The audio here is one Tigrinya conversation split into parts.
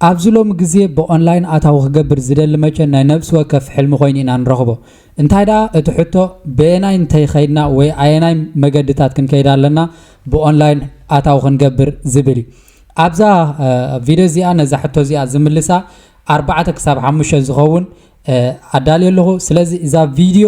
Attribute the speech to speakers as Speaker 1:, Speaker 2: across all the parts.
Speaker 1: ኣብዚ ሎሚ ግዜ ብኦንላይን ኣታዊ ክገብር ዝደሊ መቸን ናይ ነብሲ ወከፍ ሕልሚ ኮይኑ ኢና ንረኽቦ። እንታይ ደኣ እቲ ሕቶ በየናይ እንተይ ከይድና ወይ ኣየናይ መገድታት ክንከይድ ኣለና ብኦንላይን ኣታዊ ክንገብር ዝብል እዩ። ኣብዛ ቪድዮ እዚኣ ነዛ ሕቶ እዚኣ ዝምልሳ ኣርባዕተ ክሳብ ሓሙሽተ ዝኸውን ኣዳልየ ኣለኹ። ስለዚ እዛ ቪድዮ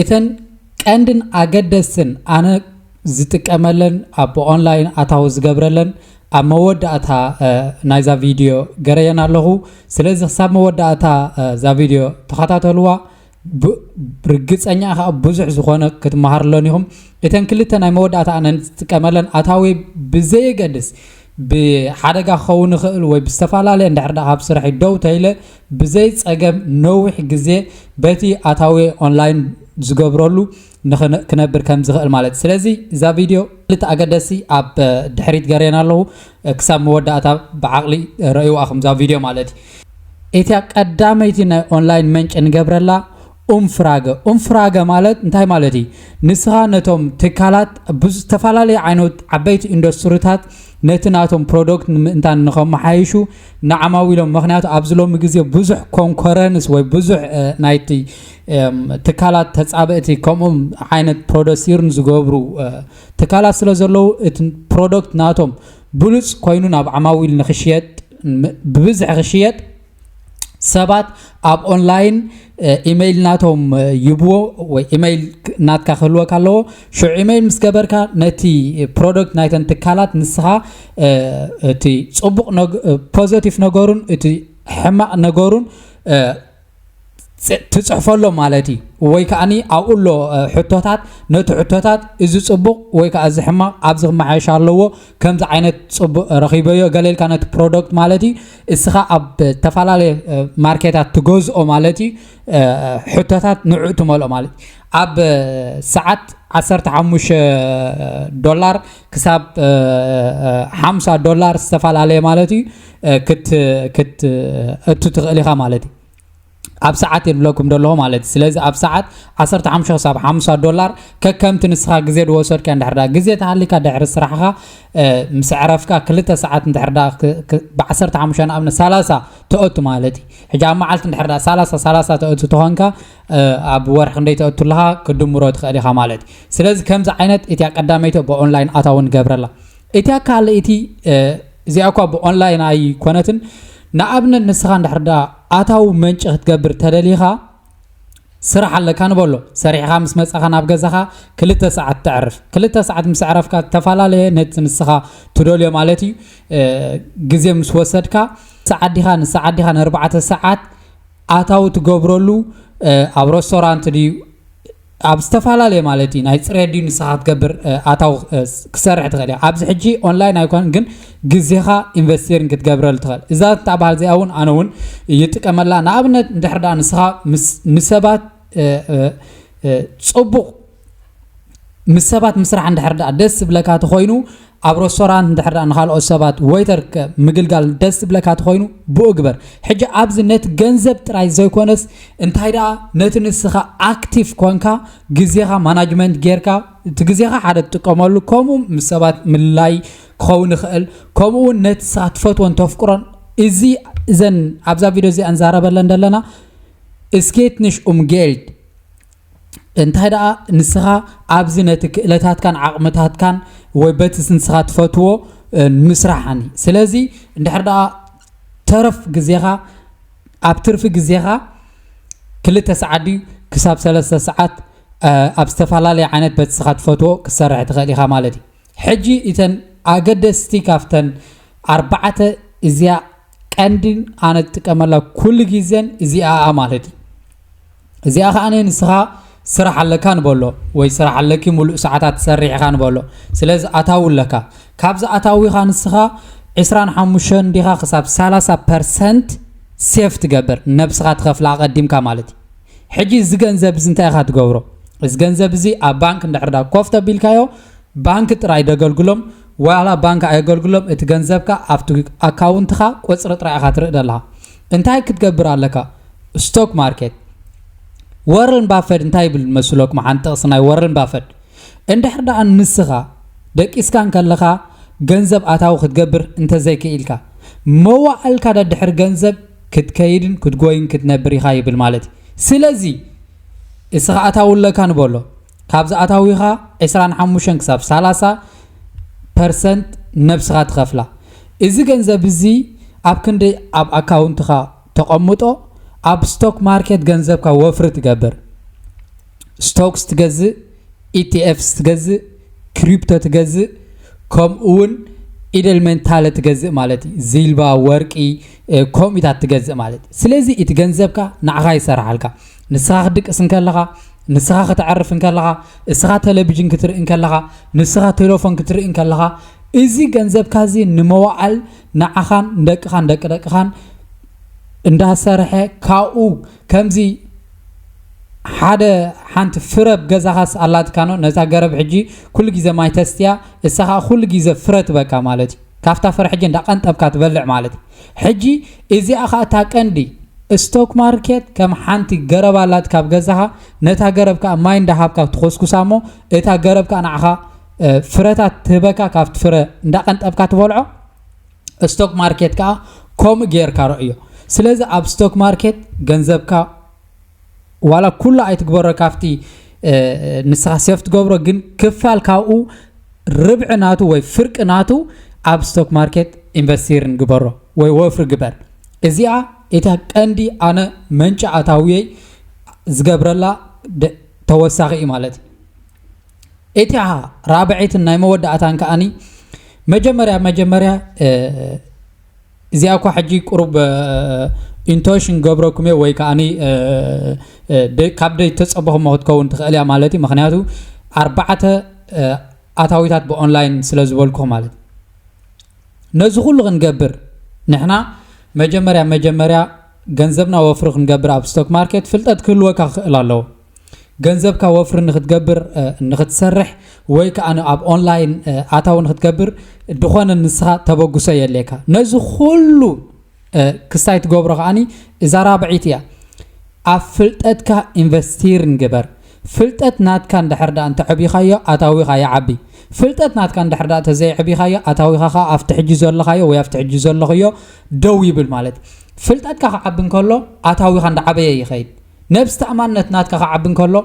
Speaker 1: እተን ቀንድን ኣገደስትን ኣነ ዝጥቀመለን ኣብ ኦንላይን ኣታዊ ዝገብረለን ኣብ መወዳእታ ናይዛ ቪድዮ ገረየን ኣለኹ ስለዚ ክሳብ መወዳእታ እዛ ቪድዮ ተኸታተልዋ ብ ርግጸኛ ኢኻ ብዙሕ ዝኾነ ክትመሃርሎን ኢኹም። እተን ክልተ ናይ መወዳእታ ኣነ ንትጥቀመለን ኣታዊ ብዘየገድስ ብሓደጋ ክኸውን ይኽእል ወይ ብዝተፈላለየ እንድሕር ደኣ ኣብ ስርሐይ ደው ተይለ ብዘይ ጸገም ነዊሕ ግዜ በቲ ኣታዊ ኦንላይን ዝገብረሉ ንክን ክነብር ከም ዝኽእል ማለት ስለዚ እዛ ቪድዮ ክልተ ኣገደሲ ኣብ ድሕሪት ገሬና ኣለዉ ክሳብ መወዳእታ ብዓቕሊ ረእይዋ ኣኹም እዛ ቪድዮ ማለት እዩ እቲያ ቀዳመይቲ ናይ ኦንላይን መንጭ ንገብረላ ኡምፍራገ ኡምፍራገ ማለት እንታይ ማለት እዩ ንስኻ ነቶም ትካላት ብዝተፈላለዩ ዓይነት ዓበይቲ ኢንዱስትሪታት ነቲ ናቶም ፕሮዶክት ንምእንታን ንኸመሓይሹ ንዓማዊሎም ምክንያቱ ኣብዚ ሎሚ ግዜ ብዙሕ ኮንኮረንስ ወይ ብዙሕ ናይቲ ትካላት ተፃብእቲ ከምኡ ዓይነት ፕሮደሲርን ዝገብሩ ትካላት ስለ ዘለዉ እቲ ፕሮደክት ናቶም ብሉፅ ኮይኑ ናብ ዓማዊል ንክሽየጥ ብብዝሒ ክሽየጥ ሰባት ኣብ ኦንላይን ኢመይል ናቶም ይብዎ ወይ ኢመይል ናትካ ክህልወካ ኣለዎ ሽዑ ኢመይል ምስ ገበርካ ነቲ ፕሮደክት ናይተን ትካላት ንስኻ እቲ ፅቡቕ ፖዘቲቭ ነገሩን እቲ ሕማቕ ነገሩን ትጽሕፎ ኣሎ ማለት እዩ ወይ ከኣኒ ኣብኡ ኣሎ ሕቶታት ነቲ ሕቶታት እዚ ጽቡቕ ወይ ከኣ እዚ ሕማቕ ኣብዚ ክመሓየሽ ኣለዎ ከምዚ ዓይነት ጽቡቕ ረኺበዮ ገለ ኢልካ ነቲ ፕሮደክት ማለት እዩ እስኻ ኣብ ተፈላለየ ማርኬታት ትገዝኦ ማለት እዩ ሕቶታት ንዕኡ ትመልኦ ማለት እዩ ኣብ ሰዓት 15 ዶላር ክሳብ 50 ዶላር ዝተፈላለየ ማለት እዩ ክትእቱ ትኽእል ኢኻ ማለት እዩ ኣብ ሰዓት የብለኩም ደለኹ ማለት እዩ ስለዚ ኣብ ሰዓት 15 ክሳብ 50 ዶላር ከከምቲ ንስኻ ግዜ ዝወሰድካ እንድሕር ዳ ግዜ ተሃሊካ ድሕሪ ስራሕኻ ምስ ዕረፍካ ክልተ ሰዓት እንድሕር ዳ ብ15 ንኣብነት 30 ተእቱ ማለት እዩ ሕጂ ኣብ መዓልቲ እንድሕር ዳ 30 30 ተእቱ ተኾንካ ኣብ ወርሒ ክንደይ ተእቱ ኣለኻ ክድምሮ ትኽእል ኢኻ ማለት እዩ ስለዚ ከምዚ ዓይነት እቲያ ቀዳመይቲ ብኦንላይን ኣታውን ገብረላ እቲያ ካልእ እቲ እዚኣ እኳ ብኦንላይን ኣይኮነትን ንኣብነት ንስኻ እንድሕር ደኣ ኣታዊ መንጪ ክትገብር ተደሊኻ ስራሕ ኣለካ ንበሎ ሰሪሕኻ ምስ መጻኻ ናብ ገዛኻ ክልተ ሰዓት ተዕርፍ ክልተ ሰዓት ምስ ዕረፍካ ዝተፈላለየ ነቲ ንስኻ ትደልዮ ማለት እዩ ግዜ ምስ ወሰድካ ሰዓዲኻ ንሰዓዲኻ ንኣርባዕተ ሰዓት ኣታዊ ትገብረሉ ኣብ ረስቶራንት ድዩ ኣብ ዝተፈላለየ ማለት እዩ ናይ ፅሬት ድዩ ንስኻ ክትገብር ኣታዊ ክሰርሕ ትኽእል እያ ኣብዚ ሕጂ ኦንላይን ኣይኮነን ግን ግዜኻ ኢንቨስቴሪን ክትገብረሉ ትኽእል እዛ ትበሃል እዚኣ እውን ኣነ እውን ይጥቀመላ ንኣብነት እንድሕር ዳ ንስኻ ንሰባት ፅቡቕ ምስ ሰባት ምስራሕ እንድሕር ደኣ ደስ ዝብለካ ተኾይኑ ኣብ ረስቶራንት እንድሕር ደኣ ንኻልኦት ሰባት ወይተር ከ ምግልጋል ደስ ዝብለካ ተኾይኑ ብኡ ግበር። ሕጂ ኣብዚ ነቲ ገንዘብ ጥራይ ዘይኮነስ እንታይ ደኣ ነቲ ንስኻ ኣክቲቭ ኮንካ ግዜኻ ማናጅመንት ጌርካ እቲ ግዜኻ ሓደ ትጥቀመሉ ከምኡ ምስ ሰባት ምልላይ ክኸውን ይኽእል ከምኡ እውን ነቲ ንስኻ ትፈትዎን ተፍቅሮን እዚ እዘን ኣብዛ ቪድዮ እዚኣ ንዛረበለን ዘለና ስኬትንሽ ኡምጌልድ እንታይ ደኣ ንስኻ ኣብዚ ነቲ ክእለታትካን ዓቕምታትካን ወይ በቲ ንስኻ ትፈትዎ ምስራሕኒ ስለዚ እንድሕር ደኣ ተረፍ ግዜኻ ኣብ ትርፊ ግዜኻ ክልተ ሰዓት ድዩ ክሳብ ሰለስተ ሰዓት ኣብ ዝተፈላለየ ዓይነት በቲ ንስኻ ትፈትዎ ክትሰርሕ ትኽእል ኢኻ ማለት እዩ ሕጂ እተን ኣገደስቲ ካብተን ኣርባዕተ እዚኣ ቀንዲ ኣነ ዝጥቀመላ ኩሉ ግዜን እዚኣኣ ማለት እዩ እዚኣ ከዓ ንስኻ ስራሕ ኣለካ ንበሎ ወይ ስራሕ ኣለኪ ሙሉእ ሰዓታት ትሰርሕ ኢኻ ንበሎ ስለዚ ኣታዊ ኣለካ ካብዚ ኣታዊኻ ንስኻ 25 እንዲኻ ክሳብ 30 ፐርሰንት ሴፍ ትገብር ነብስኻ ትኸፍላ ኣቐዲምካ ማለት እዩ ሕጂ እዚ ገንዘብ እዚ እንታይ ኢኻ ትገብሮ እዚ ገንዘብ እዚ ኣብ ባንክ እንድሕር ዳ ኮፍ ተቢልካዮ ባንክ ጥራይ ደገልግሎም ዋላ ባንክ ኣየገልግሎም እቲ ገንዘብካ ኣብቲ ኣካውንትኻ ቁጽሪ ጥራይ ኢኻ ትርኢ ዘለኻ እንታይ ክትገብር ኣለካ ስቶክ ማርኬት ወረን ባፈድ እንታይ ይብል መስለኩም ሓንቲ ጥቕሲ ናይ ወረን ባፈድ እንድሕር ደኣ ንስኻ ደቂስካ እንከለኻ ገንዘብ ኣታዊ ክትገብር እንተዘይክኢልካ መዋእልካ ደድሕሪ ገንዘብ ክትከይድን ክትጎይን ክትነብር ኢኻ ይብል ማለት እዩ ስለዚ እስኻ ኣታዊ ኣለካ ንበሎ ካብዚ ኣታዊኻ ዕስራን ሓሙሽተን ክሳብ ሰላሳ ፐርሰንት ነብስኻ ትኸፍላ። እዚ ገንዘብ እዚ ኣብ ክንደይ ኣብ ኣካውንትኻ ተቐምጦ ኣብ ስቶክ ማርኬት ገንዘብካ ወፍሪ ትገብር። ስቶክስ ትገዝእ፣ ኢቲኤፍስ ትገዝእ፣ ክሪፕቶ ትገዝእ ከምኡ እውን ኢደል ሜንታለ ትገዝእ ማለት እዩ ዚልባ ወርቂ ኮሚታት ትገዝእ ማለት እዩ ስለዚ እቲ ገንዘብካ ንዓኻ ይሰራሓልካ ንስኻ ክትድቅስ እንከለኻ፣ ንስኻ ከተዕርፍ እንከለኻ፣ እስኻ ተለቪዥን ክትርኢ እንከለኻ፣ ንስኻ ቴለፎን ክትርኢ እንከለኻ፣ እዚ ገንዘብካ እዚ ንመዋዕል ንዓኻን ንደቅኻን ደቂ ደቅኻን እንዳሰርሐ ካብኡ ከምዚ ሓደ ሓንቲ ፍረብ ገዛኻስ ኣላትካኖ ነዛ ገረብ ሕጂ ኩሉ ግዜ ማይ ተስትያ እሳ ከዓ ኩሉ ግዜ ፍረ ትበካ ማለት እዩ ካብታ ፍረ ሕጂ እንዳ ቀንጠብካ ትበልዕ ማለት እዩ ሕጂ እዚኣ ከኣ እታ ቀንዲ እስቶክ ማርኬት ከም ሓንቲ ገረብ ኣላትካ ኣብ ገዛኻ ነታ ገረብ ከኣ ማይ እንዳ ሃብካ ትኾስኩሳ እሞ እታ ገረብ ከኣ ንዓኻ ፍረታት ትህበካ ካብቲ ፍረ እንዳ ቀንጠብካ ትበልዖ እስቶክ ማርኬት ከኣ ከምኡ ጌርካ ረእዮ ስለዚ ኣብ ስቶክ ማርኬት ገንዘብካ ዋላ ኩሉ ኣይትግበሮ ካብቲ ንስኻ ሴፍ ትገብሮ ግን ክፋል ካብኡ ርብዒ ናቱ ወይ ፍርቂ ናቱ ኣብ ስቶክ ማርኬት ኢንቨስቲርን ግበሮ ወይ ወፍሪ ግበር እዚኣ እታ ቀንዲ ኣነ መንጫ ኣታውየይ ዝገብረላ ተወሳኺ እዩ ማለት እዩ እቲያ ራብዒትን ናይ መወዳእታን ከዓኒ መጀመርያ መጀመርያ እዚኣ እኳ ሕጂ ቁሩብ ኢንቶሽን ክገብረኩም እየ ወይ ከኣኒ ካብ ደይ ተጸበኹሞ ክትከውን ትኽእል እያ ማለት እዩ ምኽንያቱ ኣርባዕተ ኣታዊታት ብኦንላይን ስለ ዝበልኩኹም ማለት ነዚ ኩሉ ክንገብር ንሕና መጀመርያ መጀመርያ ገንዘብና ወፍሪ ክንገብር ኣብ ስቶክ ማርኬት ፍልጠት ክህልወካ ክኽእል ኣለዎ ገንዘብካ ወፍሪ ንክትገብር ንክትሰርሕ ወይ ከዓ ኣብ ኦንላይን ኣታዊ ንክትገብር ድኾነ ንስኻ ተበግሶ የድልየካ ነዚ ኩሉ ክስታይ ትገብሮ ከዓኒ እዛ ራብዒት እያ ኣብ ፍልጠትካ ኢንቨስቲር ንግበር ፍልጠት ናትካ እንድሕር ዳኣ እንተዕቢኻዮ ኣታዊኻ ይዓቢ ፍልጠት ናትካ እንድሕር ዳኣ ተዘይዕቢኻዮ ኣታዊኻ ከዓ ኣብቲ ሕጂ ዘለኻዮ ወይ ኣብቲ ሕጂ ዘለኽዮ ደው ይብል ማለት ፍልጠትካ ክዓቢ እንከሎ ኣታዊኻ እንዳዓበየ ይኸይድ ነብስ ተኣማንነት ናትካ ክዓቢ እንከሎ፣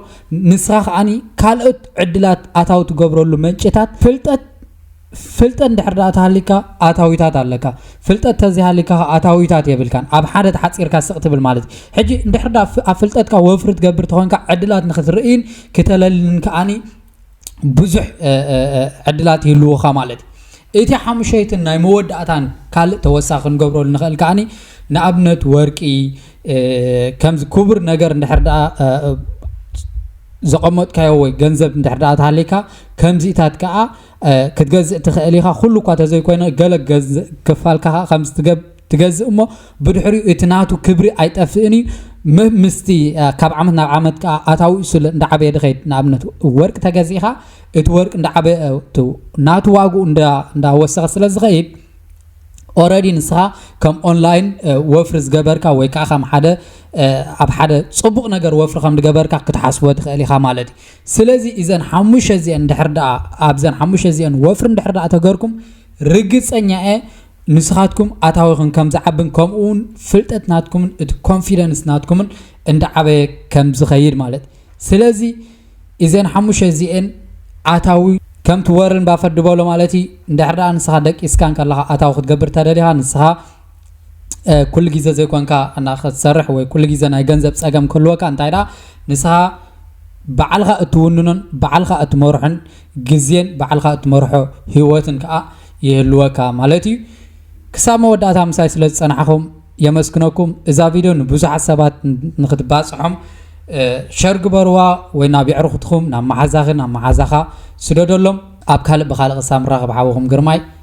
Speaker 1: ንስኻ ከኣ ካልኦት ዕድላት ኣታዊ ትገብረሉ መንጭታት ፍልጠት ፍልጠት እንድሕር ደኣ ተሃሊካ ኣታዊታት ኣለካ ፍልጠት ተዘይሃሊካ ከኣ ኣታዊታት የብልካን ኣብ ሓደ ተሓጺርካ ስቕ ትብል ማለት እዩ ሕጂ እንድሕር ደኣ ኣብ ፍልጠትካ ወፍሪ ትገብር ተኾንካ ዕድላት ንክትርእይን ክተለልን ከኣ ብዙሕ ዕድላት ይህልዉኻ ማለት እዩ። እቲ ሓሙሸይትን ናይ መወዳእታን ካልእ ተወሳኺ ክንገብረሉ ንኽእል ከዓኒ ንኣብነት ወርቂ ከምዚ ክቡር ነገር እንድሕር ደኣ ዘቐመጥካዮ ወይ ገንዘብ እንድሕር ደኣ ተሃልይካ ከምዚታት ከዓ ክትገዝእ ትኽእል ኢኻ። ኩሉ እኳ ተዘይኮይነ ገለ ክፋልካ ከዓ ከምዚ ትገብር ትገዝእ እሞ ብድሕሪኡ እቲ ናቱ ክብሪ ኣይጠፍእን እዩ ም- ምስቲ አ፣ ካብ ዓመት ናብ ዓመት ከዓ ኣታዊኡ ስለ እንዳዓበየ ድኸይድ ንኣብነት ወርቂ ተገዚእኻ እቲ ወርቂ እንዳዓበየ አ፣ እቲ ናቱ ዋግኡ እንዳ- እንዳወሰኸ ስለ ዝኸይድ ኦረዲ ንስኻ ከም ኦንላይን እ፣ ወፍሪ ዝገበርካ ወይ ከዓ ከም ሓደ እ፣ ኣብ ሓደ ፅቡቕ ነገር ወፍሪ ከም ዝገበርካ ክትሓስቦ ትኽእል ኢኻ ማለት እዩ ስለዚ እዘን ሓሙሸ እዚአን ድሕር ደኣ ኣብዘን ሓሙሸ እዚአን ወፍሪ ድሕር ደኣ ተገርኩም ርግፀኛ እየ ንስኻትኩም ኣታዊኽን ከም ዝዓብን ከምኡውን ፍልጠት ናትኩምን እቲ ኮንፊደንስ ናትኩምን እንዳዓበየ ከም ዝኸይድ ማለት ስለዚ እዘን ሓሙሽተ እዚኤን ኣታዊ ከምቲ ወርን ባፈት ድበሎ ማለት እዩ እንድሕር ደኣ ንስኻ ደቂስካ እንከለኻ ኣታዊ ክትገብር ተደሊኻ ንስኻ ኩሉ ግዜ ዘይኮንካ እና ክትሰርሕ ወይ ኩሉ ግዜ ናይ ገንዘብ ፀገም ክህልወካ እንታይ ደኣ ንስኻ ባዕልኻ እትውንኖን ባዕልኻ እትመርሖን ግዜን ባዕልኻ እትመርሖ ህይወትን ከኣ ይህልወካ ማለት እዩ። ክሳብ መወዳእታ ምሳይ ስለ ዝጸናሕኹም የመስግነኩም። እዛ ቪድዮ ንብዙሓት ሰባት ንክትባጽሖም ሸር ግበርዋ ወይ ናብ የዕርኹትኹም ናብ መሓዛኺ ናብ መሓዛኻ ስደደሎም። ኣብ ካልእ ብኻልእ ክሳብ ንራኸብ ሓውኹም ግርማይ።